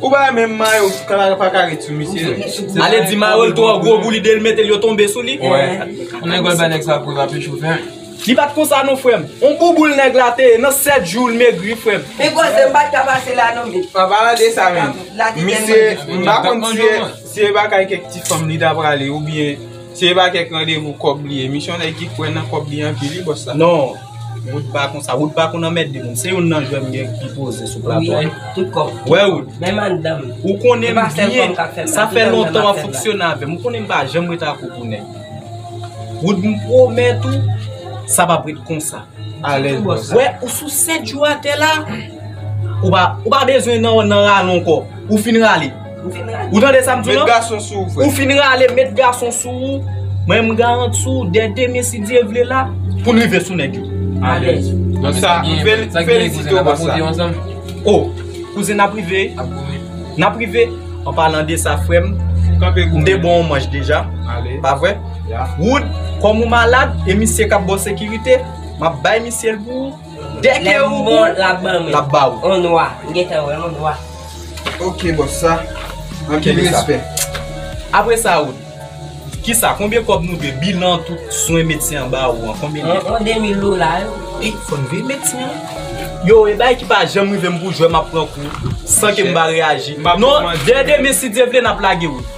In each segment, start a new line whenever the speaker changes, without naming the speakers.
Ou pa wè menm
mayo kanal pa ka ret sou misye non. Ale di mayo
l twò gwo pou li de l mete l yo tonbe sou li. Nèg wè l
bay nèg sa pou l ape chofè. Li pat konsa
non frèm. On bouboul nèg la te ye nan 7 jou l megri frèm. Pi gwo se m pat ka
pase la non big. An palan de sa menm.
Misye m pa konn si e bakay kèk ti fanm li ta prale oubyen. Se pa kèk randevou kòb li ye. Misyon nèg ki kwè nan kòb li anpil wi bòs la. Non, Wood
pa konsa. Wood pa konn anmède moun. Se youn nan jwè m gen ki poze sou plato a. Wi, tout kòb.
Wè Wood. Menm anndan
m.
Ou konnen m byen. Sa fè
lontan
w ap
fonksyone
avè
m. Ou
konnen m pa
janm ret ak ou pou nèg. Wood m pwomèt ou, sa p ap ret konsa. Alèz bòs.
Wè, ou sou 7
jou atè la. Ou pa bezwen nan rale ankò. Ou fin rale. Ou tande sa m di w lan? Ou fin
rale met
gason sou ou. Mwen m garanti w dè demen si Dye vle la pou n rive sou nèg yo. Alèz.
Donk sa m
felisite w pou sa. O,
kouzen n ap rive. N ap rive. An palan de sa frè m, m te ban w manj deja. Pa vre? Wood, kòm ou malad e misye k ap ba w sekirite, m ap bay misye l pou ou. Dèke ou bon lap ban
mwen. Lap ba ou. On nwa.
M gentan
wè on nwa. Ok bòs
sa. Anpil respè. Apre
sa ou. Kisa konbyen kòb nou dwe bilan tout swen medsen an ba ou an konbyen li ye. On demil dola
yo. E fò n veye
medsen an. Yo e bagay ki pa janm rive m pou jwè map pran kou san ke m pa reyaji. Non dè demen si Dye vle nap lage wout.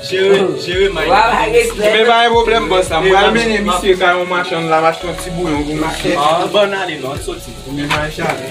Jere, jere may la Mwen pa gen
pwoblèm bòs la, m pral mennen misye kay yon machann la m achte yon ti
bouyon
pou misye Ou ban n
ale
non, n soti Premye
may
chale